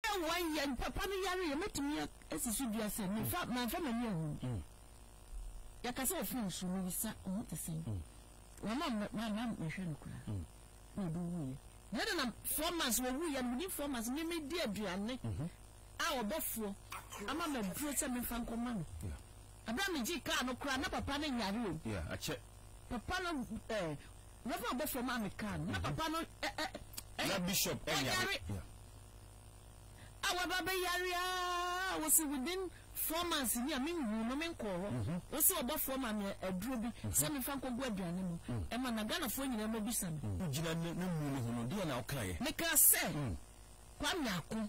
One year papa no yare yɛ mɛtumi asi so dua sɛ mefa manfa m'ani ahu yɛka sɛ ɔfiri nsu no bisa ɔho te sɛn wama mama mehwɛ no koraa na ɔde wuiɛ na ɛde nam four months wɔwuiɛ no within four months meme di aduane a ɔbɔfoɔ ama maduro sɛ memfa nkɔma no ɛberɛ a megye kaa no koraa na papa no yare o papa no Reverend abɔfoɔ maa me kaa no na mhm. papa no ɛ ɛ ɛ na bishop ɛ yare a waba bɛ yare aa wɔsi within four months ni a mi nhu no mi nkɔɔ hɔ mhm. wɔsi ɔbɔfoɔ maa mi aduro bi mhm. sɛ mi fa nkɔ gu aduane mu ɛma na Ghanafoɔ nyinaa mo bisa mi. gyina ne mu ne ho no deɛ na ɔka yɛ. meka sɛ mm. kwame ako.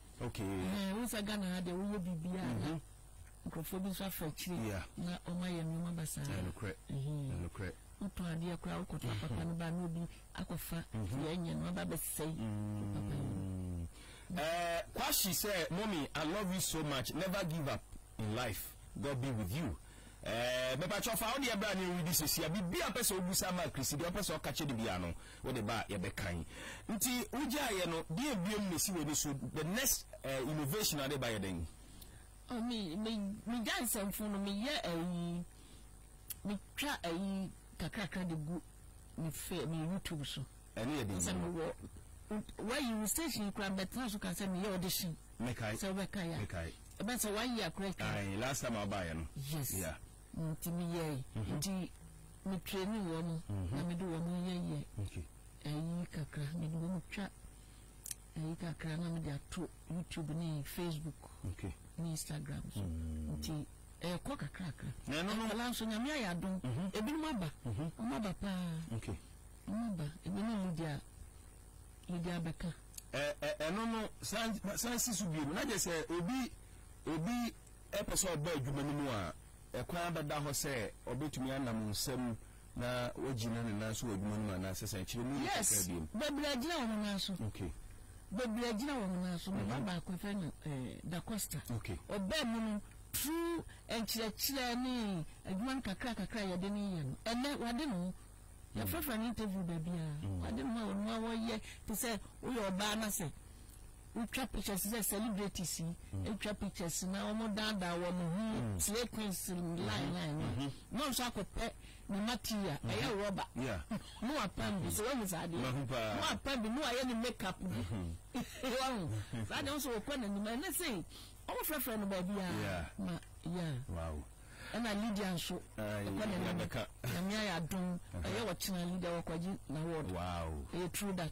Okay. Ɛhɛn, wohu sɛ Ghana ha deɛ woyɛ biribiara na nkurɔfoɔ bi nso afa akyire Yeah. na wɔn ayɛ nneɛma basaa. Ɛyɛ nokorɛ. Ɛyɛ nokorɛ. Wotɔn adeɛ koraa wokɔtɔ apapa no ba na obi akɔfa deɛ ɛnyɛ no aba abɛsɛe wo papa yi. Mm. Eh, Kwashi sɛ, Mommy, I love you so much. Never give up in life. God be with you. Eh, mepakyɛ fa wo deɛ bra ne yɛnredi sesia. Biribi a wopɛ sɛ wobusa ama Chrissy deɛ wopɛ sɛ ɔka kyerɛ no biara no, Wode ba a yɛbɛkan. Nti wogyaa yɛ no deɛn biom na ɛsi w'ani so? The next eh, innovation a wode ba yɛ dɛn? Oh, me, me, me gya nsɛmfo no me yɛ ayi, me twa ayi kakrakra de gu me fe, me YouTube so. Ɛno yɛ den. Sɛ me wɔ, wayi wo station yi koraa bɛtena so ka sɛ me yɛ audition. Mekae. Sɛ wobɛkae a. Mekae. Ɛbɛn sɛ one year koraa atwa. Ae, last time a wobaeɛ no. Yes. Yeah. Nti me yɛe nti me traini wɔn na me de wɔn yɛ yɛ ɛyi kakra me de wɔn twa ɛyi kakra na me de ato YouTube ne Facebook ne Instagram so mm. nti ɛyɛ kɔ kakra kakra. Na ɛno no nkɔla nso nyame ayɛ adom mhm. ebinom aba mhm. wɔn aba paa wɔn aba ebi ne Lydia Lydia bɛka. Ɛno no san si so bio na gye sɛ obi obi. Ɔpɛ sɛ ɔba adwuma no mu a, ɛkwan bɛda hɔ sɛ ɔbɛtumi anam nsam na wagyina ne nan so wɔ adwuma no mu anaa sɛsɛn? Kyerɛ mu yie kakra bio. Yes, bebree agyina wɔn nan so. Okay. Bebree agyina wɔn nan so. Me ba baako, yɛfrɛ no Da Costa. Okay. Ɔbaa mu no, through nkyerɛkyerɛ ne adwuma no kakra kakra a yɛde no yɛ no, ɛnnɛ wade ne ho. yɛfrɛfrɛ no interview baabi a mm. ade no a wɔn a wɔyɛ te sɛ woyɛ ɔbaa na sɛ wotwa pictures sɛ celebrities yi mm. atwa pictures na wɔn daadaa wɔn ho mm. slay queens line line no mm-hmm. na nso akɔpɛ ne material mm-hmm. ɛyɛ rɔba no apam bi sɛ wɔn nyɛ saa adeɛ no apam bi no ayɛ ne make up bi wɔn saa deɛ nso wɔkɔ n'anim ɛnɛ sɛ wɔn frɛfrɛ no baabi a ma yeah. Ɛna Lydia nso ɛkɔ n'anim. Nyame ayɛ adom ɛyɛ ɔkyena Lydia wakwagye n'award. Ɛyɛ true that.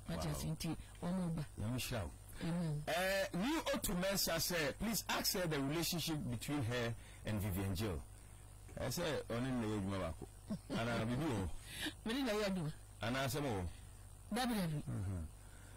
Wate ase nti wɔn ba. Nyame nhyira wo. Amen. Eh, new Otu Mensah sɛ please ask her the relationship between her and Vivian Jill. Ɛyɛ sɛ ɔne no na ɛyɛ adwuma baako. Anaa bibi wɔ hɔ. Mene na ɛyɛ adwuma. Anaa asɛm wɔ hɔ. Dabi dabi.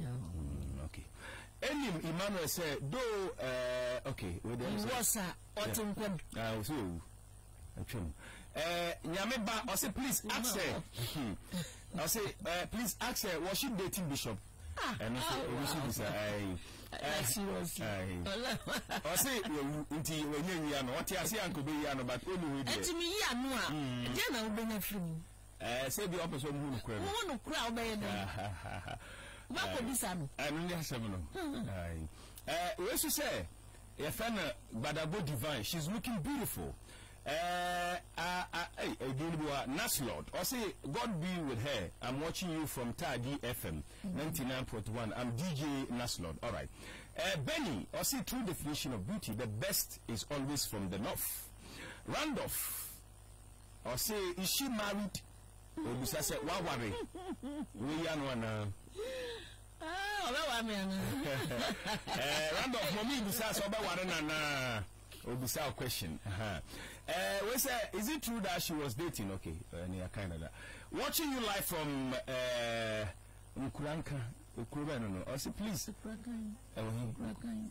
Mm, okay. Enim Emmanuel sɛ do uh, okay. Wɔ sa ɔte mpam. Ah, ɔsɛ owu. Atwam. Eh, nyame ba ɔsɛ please ask her. Ɔsɛ eh, please ask her was she dating bishop? Ah, ɛno so ah, ebi so bisa ayi. Ɔsɛ wawu nti wɔnyɛ wia no ɔte ase anko bɛ wia no but ɔmu hu deɛ. Ɛtumi yi ano a, ɛdeɛ hmm. na wobɛnya firi mu. Ɛɛ sɛ bi ɔpɛ sɛ ɔmo hu no korɛ no. Wohu no korɛ a wobɛyɛ no. Wobɛkɔ bisa no. Ɛno ne asɛm no. Ɛɛ wei so sɛ yɛfɛ no Gbadagbo Divine she's looking beautiful. Ɛɛ a a ɛy ɛdin no bi wa Naslord ɔse God be with her I'm watching you from Taadi FM ninety nine point one I'm DJ Naslord alright. Ɛɛ Benny ɔse true definition of beauty the best is always from the north. Randolph. Ɔse is she married? Obisa sɛ waware wei ano anaa? Ah, ɔbɛware me anaa? Eh, round of mɔmi bisa sɛ ɔbɛware no anaa? Obisa o question. Eh, we sɛ is it true that she was dating? Okay, ɛne eh, yɛkae no da. Watching you live from eh, Nkuranka. Ekuro bɛn no no? Ɔse please. Ekurakan. Ɛwɔ he? Ekurakan.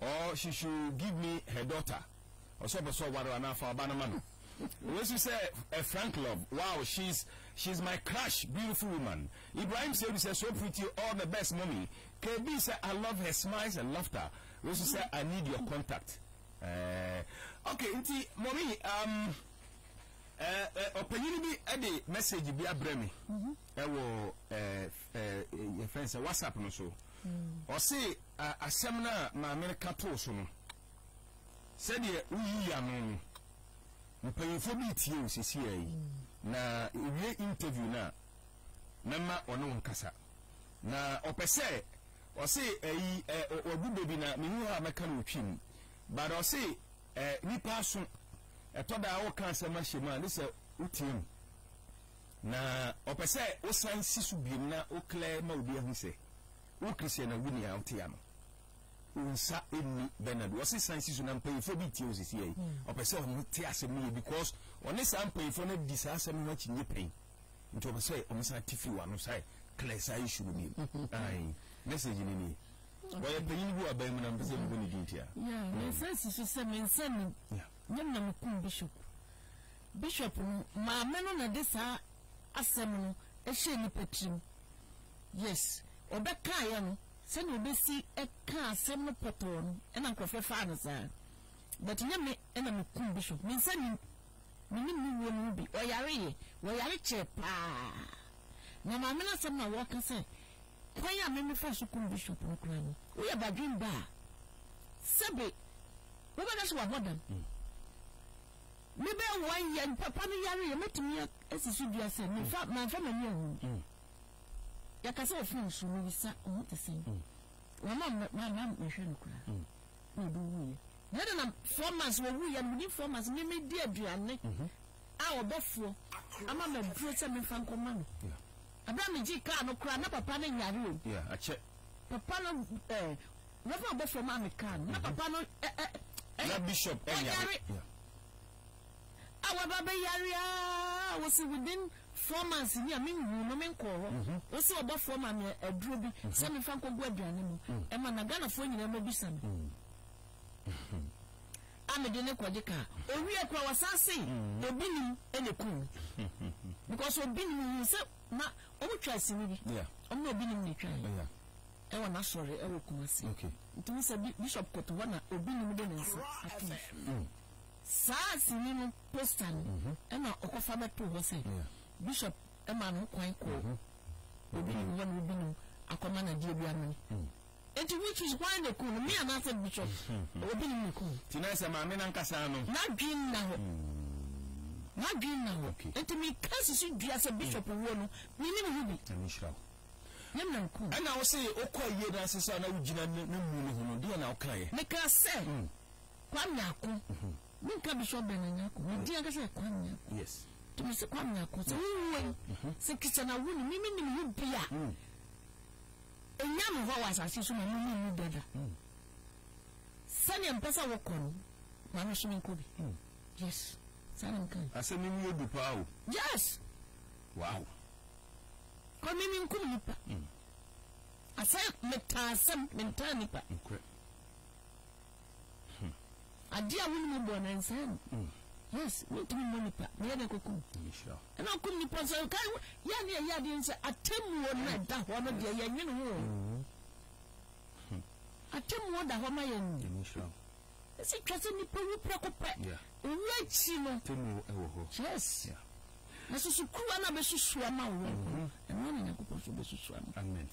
or she should give me her daughter ɔsɛ ɔpɛ sɛ ɔware anaa fa ɔba no ma no wei so sɛ a frank love wow she's she's my crush beautiful woman Ibrahim Seidu sɛ so pretty all the best mommy KB sɛ I love her smiles and laughter wei so sɛ I need your contact eh, okay nti mommy um, eh, eh, ɔpanyini bi de message bi abrɛ me ɛwɔ eh, eh, yɛfɛn sɛ whatsapp no so ɔse mm. A Asɛm no a maame no ka too so no, sɛdeɛ woyii ano no, mpanyimfoɔ bi retie wo seesei yi, na ɛwie interview no a, mɛma ɔne wo nkasa. Na ɔpɛ sɛ ɔse ayi ɛ wagu bɛ bi na menni hɔ a mɛka no ɔtwi mu. But ɔse ɛ nipa aso ɛtɔ da a woka asɛm ahyɛ mu a ne sɛ wotie mu. Na ɔpɛ sɛ wosan si so biom na wo clear ma obi ahu sɛ. Wo Christian a woni a wote ano wo nsa nni Bernard wɔ sesan si so na mpanyinfoɔ bi tie wo sisi yɛ ɔpɛ sɛ ɔmo te asɛm no yɛ because ɔne saa mpanyinfoɔ no adi saa asɛm no ho akyi nye pɛn nti ɔpɛ sɛ ɔmo san te fi wɔ ano sɛ clear saa issue no bi ayi message no ni wɔyɛ panyin bi wɔ aban mu na mpɛ sɛ mbɔ ne din tia. Yeah, me nsa si so sɛ me nsa ni nyam na me kum bishop bishop no maame no na de saa asɛm no ɛhyɛ nipa tirim Yes, ɔbɛkaeɛ no, sɛdeɛ ɔbɛsi kaa asɛm no pɔtɔɔ no na nkorɔfoɔ faa no saa. But nyɛ me na mekum Bishop, me nsa nnim, mennim ne wuo no ho bi, ɔyareeɛ, wɔyare kyɛɛ paa. Na maame no asɛm na wɔka sɛ kwan a me mefaa so kum Bishop no koraa no, woyɛ badwen ba a, sɛbe wobɛhwɛ sɛ wabɔ dam. Mebɛyɛ one year, papa no yareeɛ, mɛtumi asi so dua sɛ mamfa m'ani ahu. yɛka sɛ ɔfiri nsu no yi sa ɔho te sɛn mm. wɔma mama mehwɛ no koraa mm. na ɔde wuiɛ na ɛde na four months wɔwuiɛ no medi four months memedi aduane mhm. a ɔbɔfoɔ ama maduro sɛ memfa nkɔma no ɛberɛ a megye kaa no koraa na papa no nyare o akyɛ papa no ɛɛ rɛfɛ ɔbɔfoɔ maa me kaa no na mhm. papa no ɛɛ ɛyɛ bishop ɛnyare a waba bɛ yare aa wose within four months ni a me nhuu no me nkɔɔ hɔ mhm. wose ɔbɔfoɔ ma me aduro bi mhm. sɛ mefa nkɔgu aduane mu mhm. ɛma na ghanafoɔ nyinaa mu bisa me a mede ne kɔgye kaa owie kora wasan se obi nim ɛna kum because obi nim hu sɛ na ɔmo twa asini bi ɔmo na obi nim na twa yɛ ɛwɔ n'asɔre ɛwɔ kumase nti mo sɛ bishop kɔtɔ hɔ na obi nim de ne nsa ato Saa sini no poster no na ɔkɔfa bɛtoo hɔ sɛ Bishop maa no ho kwan kɔɔ obi nim hɔ na obi nim akɔma no adeɛ bi amene. Enti which is why na ɛkum no? Me anaasɛ Bishop? Obi nim na ɛkum no. Nti na ɛsɛ maame no ankasa no. N'adwene nna hɔ. N'adwene nna hɔ. Enti meka sisi dua sɛ Bishop wuo no, menim ho bi. Nyame nhyira wo. Yam na ɛkum no. Ɛna wo se wokɔ ayie no ase sɛ na wogyina ne mmu no ho no, deɛ na wokaeɛ? Mekaa sɛ Kwame Ako, me nka Bishop Bernard Nyarko, ne din ankasa yɛ Kwame Nyarko. Yes. Nti me se Kwame Nyarko, sɛ wo wuo yi, sɛ Christian awu no, me me nim ho bi a, ɛnya me hɔ wɔ asase so ma me mu mu dada. Sɛdeɛ mpɛ sɛ wokɔ no, ma me so me nkɔ bi. Yes. Saa na meka. Asɛm yi mu yɛ du paa o. Yes. Wow. Kɔ me me nkum nipa. Asɛ metaa asɛm, mentaa nipa. Nkorɛ. Hmm. Adeɛ a wonim bɔ no nsaa mu. Hmm. Yes, wontumi mmɔ nipa. Meyɛ dɛ kokum. Ɛna okum nipa sɛ ɔka yɛ ne ɛyɛ adeɛ sɛ atemmuo no ɛda hɔ no deɛ yɛnwene ho. Hmm. Atemmuo da hɔ ma yɛn. Ɛsi twa sɛ nipa wu prɛko pɛ. Owu akyi no. Atemmuo ɛwɔ hɔ. Yes. Yeah. na susukuruwa no bɛsusu ama wo yɔnko ɛno ana nyankopɔn so bɛsusu ama amen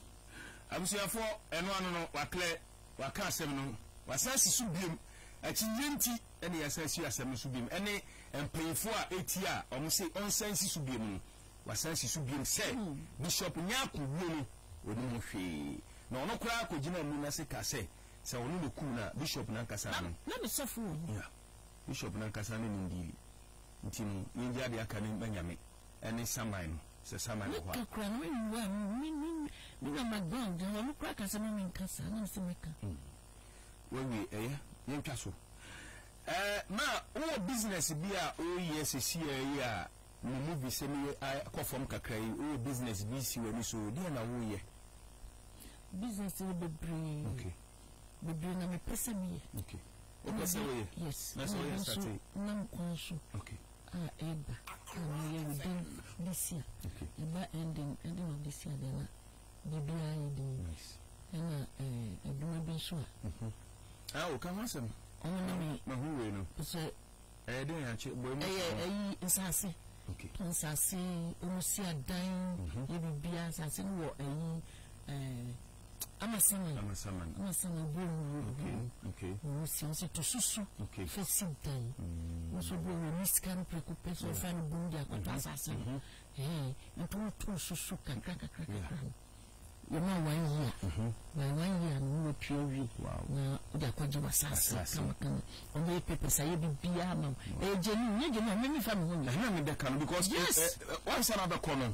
abusuafoɔ ɛno ano no waklɛ Waka asɛm no, wasan asi so bio. Akyinnye nti na yɛasan asi asɛm no so bio. Ɛne mpanyimfo a etia a wɔse ɔnsan nsi so bio no, wasan asi so bio sɛ Bishop Nyarko wuo no, onim ho hwee. Na ɔno koraa kogyinaa muni no ase kaa sɛ, sɛ ɔno na okum no a, Bishop no ankasa no. Na, na ne sɔfo wɔ hɔ. Yeah. Bishop no ankasa ne no nnii. Enti no, yengye ade aka no ma Nyame. ne saman no, sɛ saman wɔ hɔ a. Meka koraa na menwu a, me nua McGowan de, ɔno koraa ka sɛ mma menka saa, na mese mɛka. Wawie, ɛyɛ, yɛntwa so. Ɛɛ, ma wowɔ business bi a woyɛ sesiaa yi a, me movie sɛ me akɔ fam kakra yi, wowɔ business bi si w'ani so, deɛ na woyɛ? Business wɔ bebree. Okay. Bebree na mepɛ sɛ meyɛ. Okay. Wopɛ sɛ woyɛ? Yes. Na sɛ woyɛ a, start. Nam kwan so. Okay. a ɛba a na ɛyɛ wo den de si a, ɛba ɛnden de na ɔde si a deɛ na biribiara yɛ den. Ɛna eh, adwuma bi nso a. Ah, mhm. woka ho asɛm. Ɔno ne me. Mahu wei no. Sɛ. Ɛyɛ den akye bɔ emu. Ɛyɛ ɛyi nsaase. Okay. Nsaase, wɔn si adan, yɛ biribiara nsaase no wɔ ɛyi ɛɛ. ama saman ama saman ama saman bɔ owuo okay okay owuo si ɔsɛ to so so okay fɛ si dan mm. nso bɔ owuo ne sika no preko pɛ so ɔfa no bom de akɔtɔ mm-hmm. asase no mm-hmm. ɛɛ nti wɔn to so so kakra kakra kakra no yɛma wɔn yi a mm-hmm. wɔn wɔn yi a no mu apue awi na ɔde akɔgye wɔ asase kamakama wɔn bɛyɛ pɛpɛ sa yɛ bibi ama wɔn ɛyɛ gyeni nyɛ gyeni a mɛmi fa mi ho nyɛ ɛna mi dɛ ka no because wɔn nsa na bɛ kɔ no.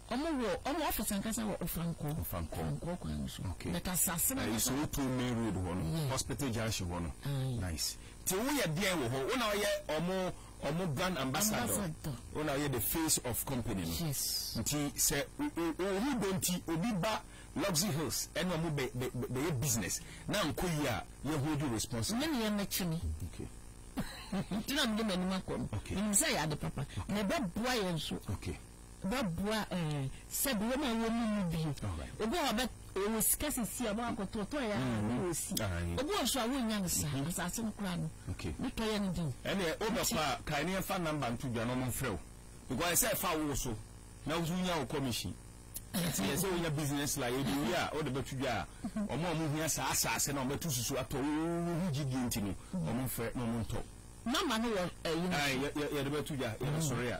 Ɔmo wɔ ɔmo office ankasa wɔ Ofankor. Ofankor. Ofankor kwan no so. Okay. But asase no. Ɛyɛ sɛ otu main road hɔ no. Yeah. Hospital junction hɔ no. Aye. Nice. Ti wo yɛ deɛn wɔ hɔ? Wo na ɔyɛ ɔmo ɔmo brand ambassador. Ambassador. Wo na ɔyɛ the face of company no. Yes. Nti sɛ ohu dɔ nti obi ba Luxy Hills ɛna ɔmo bɛ bɛ bɛyɛ business na anko yie a yɛ hold you responsible. Me ne yɛ mɛkyi me. Okay. Nti na mede m'anim akɔ no. Okay. Menim sɛ ɛyɛ ade papa. Okay. Na ɛbɛboa yɛn nso. Okay. bɛboa ɛɛ sɛ bi wɔn a wɔn mu mu bi obi a ɔbɛ ɔwɔ sika sisi a wɔn akɔtɔ tɔ yɛ a ne wɔ si obi wɔ nso a wɔn nya no sa asaase no koraa no ne tɔ yɛ no di. ɛnna o bɛ kɔ a kan ne nfa namba nto dwa na wɔn nfrɛ o because ɛsɛ ɛfa wo so na wosu nya wo commission nti yɛ sɛ wonya business la yɛ de wi a o de bɛ to dwa a wɔn a wɔn hia saa asaase na wɔn bɛ to susu atɔ wo ho gyi die nti no wɔn nfrɛ na wɔn ntɔ. namba no wɔ ɛyi no so. yɛ yɛ de bɛ to dwa yɛ bɛ sɔrɔ yɛ.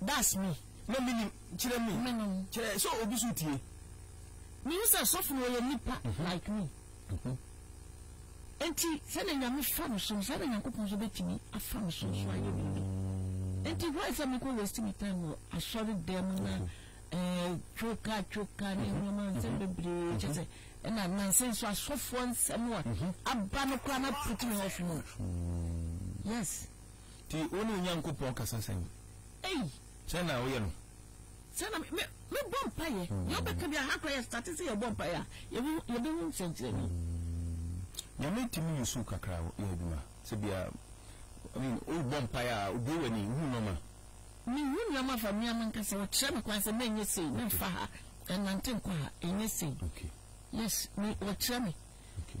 That's me na menim kyerɛ me menom kyerɛ sɛ obi so tie. Mehu sɛ sɔfo no ɔyɛ nipa like me. Enti sɛdeɛ Nyame fa no so no saa na Nyankopɔn nso bɛtumi afa me so nso ayɛ biribi. Enti why sɛ mekɔ waste me time wɔ asɔre dɛm mu na eh, twoka twoka ne nneɛma nsɛm bebree kyɛ sɛ ɛna nansa nso asɔfoɔ nsɛm a aba no koraa na put me off no. Yes. Nti wo ne wo Nyankopɔn kasa sɛn? Ei! Sɛn na woyɛ no? Sɛn na me, mebɔ mpaeɛ. Mm. Deɛ wobɛka bi aha koraa yɛ state sɛ yɛbɔ mpaeɛ a yɛbɛhu nsɛnkyerɛnne. Mm. Nyame tumi yi so kakra yɛ adwuma sɛ bia I mean, wobɔ mpaeɛ a obue w'ani wohu nɔma. Mehu nneɛma fa mmea mankasa wɔkyerɛ me kwan sɛ menyɛ sei memfa ha ɛnante nkɔ ha ɛnyɛ sei. Okay. Yes, me wɔkyerɛ me. Okay.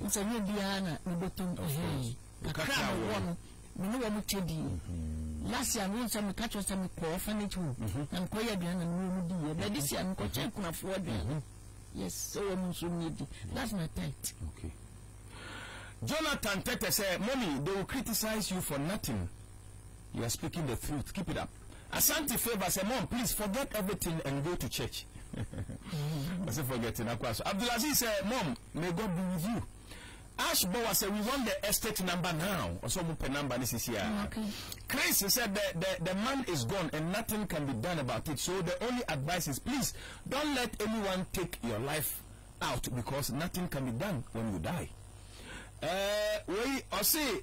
Ɔsɛ nyɛ obiara na me bɔtɔ mpɛhɛɛ. Kakra a mewɔ no, me ne wɔn kyɛ dii. Mm-hmm. Last year no nsɛ meka kyerɛ sɛ mekɔ orphanage home mm-hmm. na mekɔyɛ aduane na mewɔ mu diiɛ. But this year no mekɔkyɛ mm-hmm. akunafoɔ aduane. Yes, sɛ wɔn nso nyɛ di. That's my pet. Okay. Jonathan Tete sɛ, Mommy, they will criticize you for nothing. You are speaking the truth keep it up Asante favour sɛ mom please forget everything and go to church ɔsɛ forget na kɔ aso Abdulaziz sɛ mom may God be with you Ash Bowa sɛ we want the estate number now ɔsɛ ɔmo pɛ number ne sisi a Chris sɛ the, the, the man is gone and nothing can be done about it so the only advice is please don't let anyone take your life out because nothing can be done when you die. Uh, wei ɔse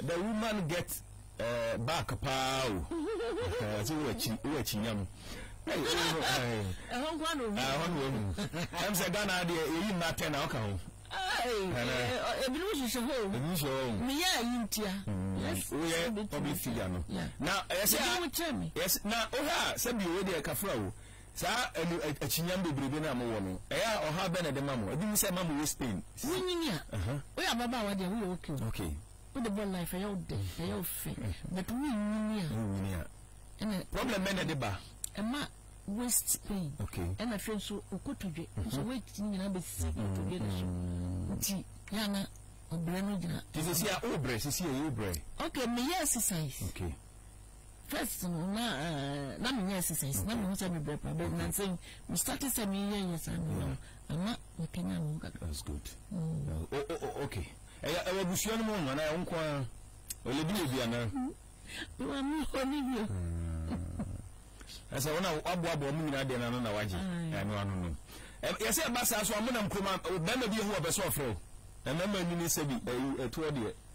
The woman get eh, back paa o ɛsɛ wowɔ akyi wowɔ akyi nyam ɛhɔ nkoa na ohu ɛhɔ na ohu ɛm sɛ ghana adeɛ yɛyi mma atɛn na ɔka ho ebinom hwehwɛ hɔ ebinom hwehwɛ hɔ meyɛ ayi ntia woyɛ public figure no na ɛsɛ a na wohɛ a sɛbi owe deɛ kafra o Saa ɛnu akyinnyam bebrebe no a mowɔ no, ɛyɛ a ɔhaw bɛn na ɛde ma mo? Ebi hu sɛ ɛma moyɛ spin. Wonyini a, woyɛ ababaawa deɛ woyɛ okay o. Okay. Wode bɔ life ɛyɛ wo dɛ, ɛyɛ wo fɛ. But wonyini a. Wonyini a. Ɛna. Problem bɛn na ɛde ba? Ɛma waist pain. Okay. Ɛna afei nso okotodwe. Nso weight no nyinaa bɛsi kotodwe no so. Nti yɛ a na ɔbrɛ no gyina. Nti sisi a wobrɛ, sisi a wobrɛ. Okay, meyɛ exercise. Okay. first no na eh, na menyɛ exercise na mehu sɛ mebrɛ pa bɛ nanse mestate sɛ meyɛ yɛ saa no no ama makanya me ho kakra that's good mm. uh, oh, oh, oh, okay ɛyɛ ɛwɔ abusua no mu ho anaa ɛwo nko a ɔlɛbi yɛ bi anaa mame ɔne bio ɛsɛ wo na waboaboa mu nyinaa deɛ nano na wagye ɛno ano no yɛsɛ ɛba saa so amonam kuroma bɛrima bi ɛhu ɔbɛ sɛ ɔfrɛ o ɛmɛma nyini sɛ bi ɛtoɔ deɛ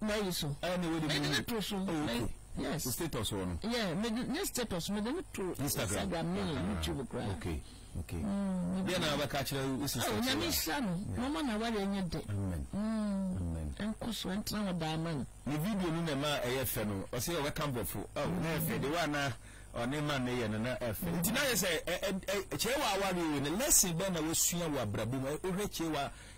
na yi so ɛna wɔ de mu ne to so okay yes o status wɔ no yeah me de ne status me de ne to instagram ne youtube kura okay okay deɛ na abɛka kyerɛ wo sisi ɛwɔ nyame nhyira no mama na wari enye de amen amen ɛnkɔ so ɛntena hɔ daa amen ne video no na ɛma ɛyɛ fɛ no ɔsɛ ɔbɛka mborɔfo ɛwɔ na ɛfɛ de wa na ɔne ma ne yɛ no na ɛfɛ nti na yɛ sɛ kyerɛ wɔ awari ne lesson bɛn na wɔsua wɔ abrabɔ mu ɔhwɛ kyerɛ wɔ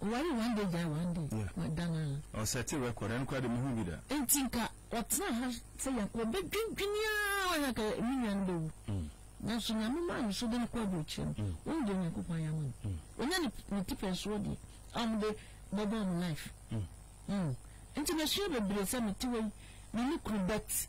Ɔwaree one day gyae one day. Yeah. Wadan ara. Ɔsɛte record, ɛno koraa de mehu bi da. Nti nka ɔtena ha sɛ Yakob ɔbɛdwendwene ara na ka me nua no bɛwu. Mm. Nanso Nyame maa no so de no kɔ aburokyerɛ no. Mm. Wɔn deɛ Onyankopɔn ayɛ ama no. Mm. Ɔnya ne, ne tipɛn soɔ deɛ a wɔde bɛbɔ wɔn life. Mm. Mm. Nti mesua bebree sɛ mete wei me ne kuru bet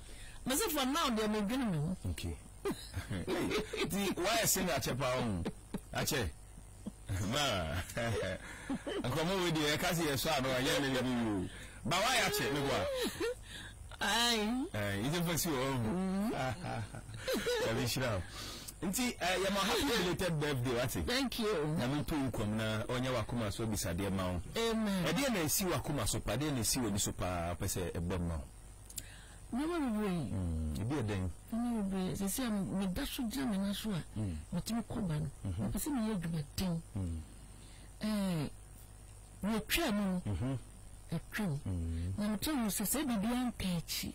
Me se for now deɛ me dwene me ho. Okay. Ti why sing akyɛ pa ho? Akyɛ. Ba. Nkomo we deɛ ɛka se yɛ sɔ ano anyɛ me bi yo. Ba why akyɛ me boa. Ai. Eh, ije fa si o. Ya bi shira. Nti eh, yɛ ma happy belated birthday wate. Thank you. Na me to nkom na onye wakoma so bisadeɛ ma wo. Amen. Ɛdeɛ na esi wakoma so pa, ɛdeɛ na esi wani so pa, pese ɛbɛ ma wo. Nneɛma bebree. Mm, ebi yɛ dɛn? Nneɛma bebree. Sɛ sɛ meda so gyina me nan so a, mm. metumi kɔ ba no. Mhm. Mepɛ sɛ meyɛ adwumaden. Mm. Ɛɛ, wɔatwa mu no, mhm. atwam. Mm. Na mekyerɛ mu sɛ sɛ biribiara nka akyi.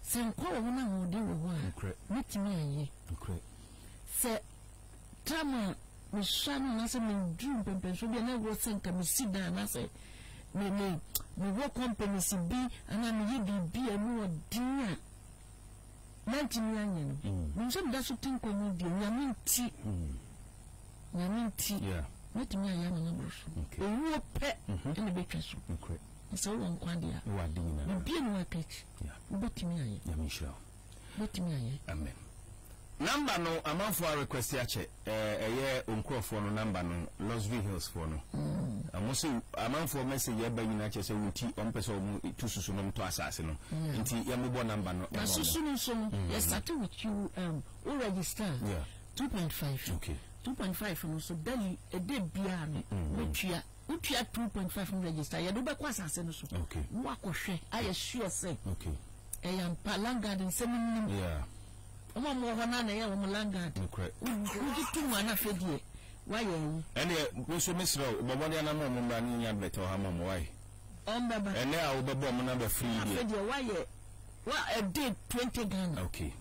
Sɛ nkwa wɔ hɔ na ahoɔden wɔ hɔ a, mɛtumi ayɛ. Sɛ Tam a mehyia no anaasɛ meduru mpɛmpɛnsoɔ bi a na ɛwɔ sɛ nka mesi dan anaasɛ me me mewɔ companies bi anaa meyɛ biribi a ɛmu ɔden a mantumi anyɛ no mm. menim sɛ meda so te nkwa mu deɛ nyame nti mm. nyame nti mɛtumi ayɛ ama no aboro so owuo pɛ mm-hmm. ɛna bɛtwa so sɛ wowɔ nkwa deɛ a bibia ne wakakyi wobɛtumi ayɛ Mɛtumi ayɛ. Amen number no amanfoɔ a request akyɛ ɛɛ ɛyɛ onkurɔfoɔ no number no Losvie Hills foɔ no wɔn mm. sɛ amanfoɔ message ɛba nyinaa kyɛ sɛ wɔn ti wɔn pɛ sɛ wɔn tu susu nom tɔ asaase no mm. nti yɛn mo bɔ number no ɛma wɔn. na susu no nso no mm. yɛ start with you um, o register. Yeah. 2.5 okay 2.5 no so daily ɛdɛ biara no mɛtua wotua two point five no register yɛde wobɛkɔ asase no so na wakɔhwɛ ayɛ sure sɛ ɛyɛ ampa langard nsɛm nnim wɔn a wɔwɔ hɔ no ana ɛyɛ wɔn langard wogye to mu ana afei deɛ woayɛ ayi ɛneɛ wo nso mesrɛ wo bɔbɔde anam ɔmo mmra ne nya admɛtɛ ɔha ma ɔmo wae ɔmbɛba ɛnɛ a wobɛbɔ ɔmo namba firi deɛ afei deɛ woayɛ wa ɛde twenty ghana okay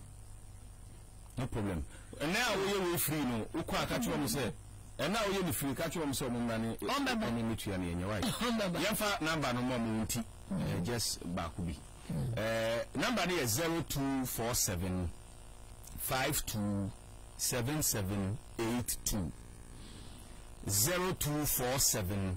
No problem ɛnɛ a woyɛ wei firi no wokɔ a ka kyerɛ ɔmo sɛ ɛnɛ a woyɛ no firi ka kyerɛ ɔmo sɛ ɔmo mmra ne ɛne ne tua no yɛnyɛ wae yɛmfa namba no ma ɔmo nti eh, just baako bi eh, namba no yɛ 0247 527782 0247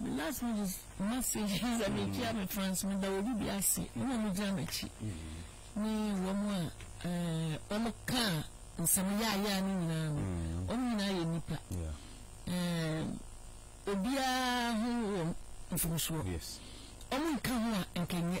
Me last message message is a me tia me fans me da obi bi ase mo na mo gyina m'akyi ne wɔn a ɛɛ wɔn ka nsɛm yaayaa ne nyinaa no wɔn nyinaa yɛ nipa ɛɛ obiara ho wɔ mfomsoɔ wɔn nka ho a nkɛnyɛ.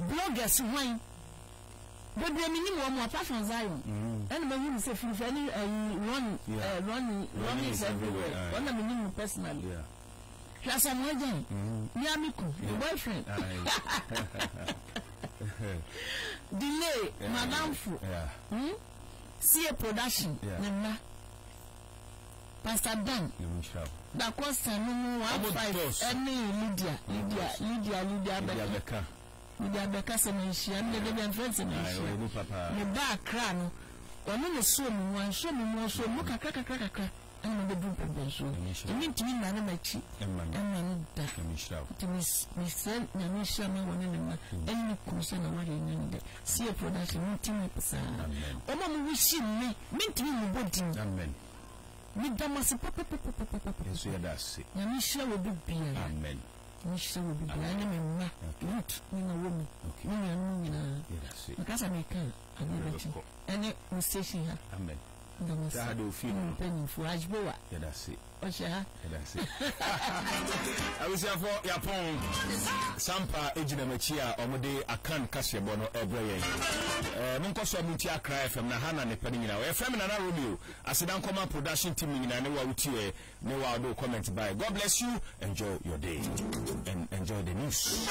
Bloggers hwan? Bebree me nim wɔn apart from Zion. Mm. Ɛna mahu no sɛ firifi ɛne ɛyi Ronnie. Yeah. Eh, Ronnie. Ronnie is everywhere. Ah, Ɔna me nim no personally. Yeah. Hwɛ asɛ mo agya yi. Mm-hmm. Mia me ku. Your boyfriend. Delay. Madamfo. Yeah. Hmm? See a production. Yeah. Ne mma. Pastor Ben, Dakoa Sanu mu one five ɛne Lydia Lydia Lydia Lydia Abeka Lydia Abeka sɛ na nhyia ne dede bia mfrɛ sɛ na nhyia ne ba akra no ɔne ne so mu mu anso mu mu so mu kakra kakra kakra ɛna mo bɛduru pɛpɛ nsuo ɛmi ntumi nna ne m'akyi ɛma no da nti mesrɛ nyame nhyira ma wɔ ne ne ma ɛne ne kunu sɛ na wɔyɛ nyɛ ne dɛ Seer production mo team up saa. Wɔn a mo wɔ hyim me me ntumi mo bɔ din. Amen. Me da mo ase papapapapapa. Yɛn nso yɛda ase. Nyame nhyira wɔ bi biara. Amen. Nyame nhyira wɔ bi biara ɛne me mma Ruth ne Naomi ne nuanom nyinaa. Yɛda ase. Meka sɛ meka a adeɛ bɛkye ɛne mo station ha. Amen. Yɛda ase mo mpanyinfoɔ Ajbowa. Yɛda ase. Ɔhyɛ ha. Yɛda ase. Abusuafo yapɔn sampa egyina mu akyi a wɔn de akan kaseɛbɔ no ɛbrɛ yɛn. Ɛɛ mo nkɔ so a mo nti akra fm na ha na ne pɛ no nyinaa. Wɔyɛ fɛn mi nana Romeo asedankɔma production team no nyinaa ne wa wotiɛ ne wa ɔdo comment by. God bless you enjoy your day and enjoy the news.